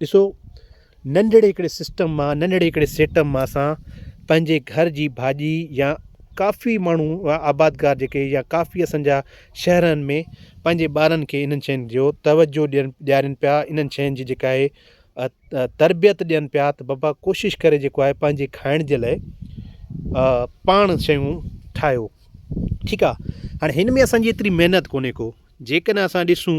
ڏسو ننڍڙي هڪڙي سسٽم مان ننڍڙي هڪڙي سيٽم مان اسان پنهنجي گهر جي ڀاڄي يا ڪافي ماڻهو آبادگار جيڪي يا ڪافي اسان جا شهرن ۾ پنهنجي ٻارن کي انهن شين جو توجو ڏين ڏيارين پيا انهن شين جي جيڪا آهي تربيت ڏين پيا ته بابا ڪوشش ڪري جيڪو آهي پنهنجي کائڻ جي لاء پاڻ شيون ٺاهيو ٺيڪ آهي هاڻي هن ۾ اسان جي ايتري محنت ڪونهي ڪو جيڪڏهن اسان ڏسون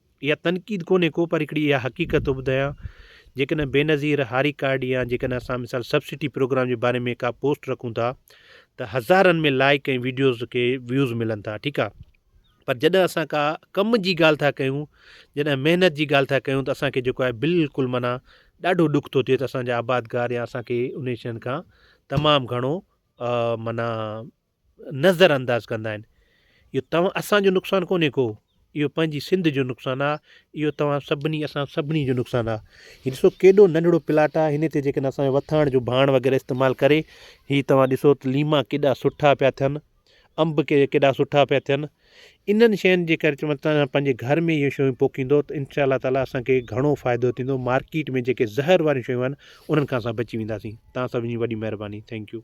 اها تنقيد ڪونهي ڪو پر هڪڙي اها حقيقت ٿو ٻڌايان جيڪڏهن بينظير هاري ڪارڊ يا جيڪڏهن اسان مثال سبسڊي پروگرام جي باري ۾ ڪا پوسٽ رکون ٿا ته هزارن ۾ لائيڪ ۽ ويڊيوز کي ويوز ملن ٿا ٺيڪ آ پر جڏهن اسان ڪا ڪم جي ڳالهه ٿا ڪيون جڏهن محنت جي ڳالهه ٿا ڪيون ته اسان کي جيڪو آهي بلڪل معنيٰ ڏاڍو ڏک ٿو ٿئي ته اسان جا آبادگار يا اسان کي انهي شين کان تمام گهڻو معنيٰ نظر انداز ڪندا آهن اهو توهان اسان جو نقصان ڪونهي ڪو اهو پنهنجي سنڌ جو نقصان آ اهو توهان سڀني اسان سڀني جو نقصان آ هي ڏسو ڪيڏو ننڍڙو پلاٽ آ هن تي جيڪڏهن اسان وٿاڻ جو ڀاڻ وغيره استعمال ڪري هي توهان ڏسو ته ليما ڪيڏا سٺا پيا ٿين انب ڪي ڪيڏا سٺا پيا ٿين انهن شين جي ڪري چون ته پنهنجي گهر ۾ اهي شيون پوکيندو ته انشاء الله تعاليٰ اسانکي گهڻو فائدو ٿيندو مارڪيٽ ۾ جيڪي زهر واريون شيون آهن انهن کان اسان بچي وينداسين توهان سڀني جي وڏي مهرباني ٿينڪ يو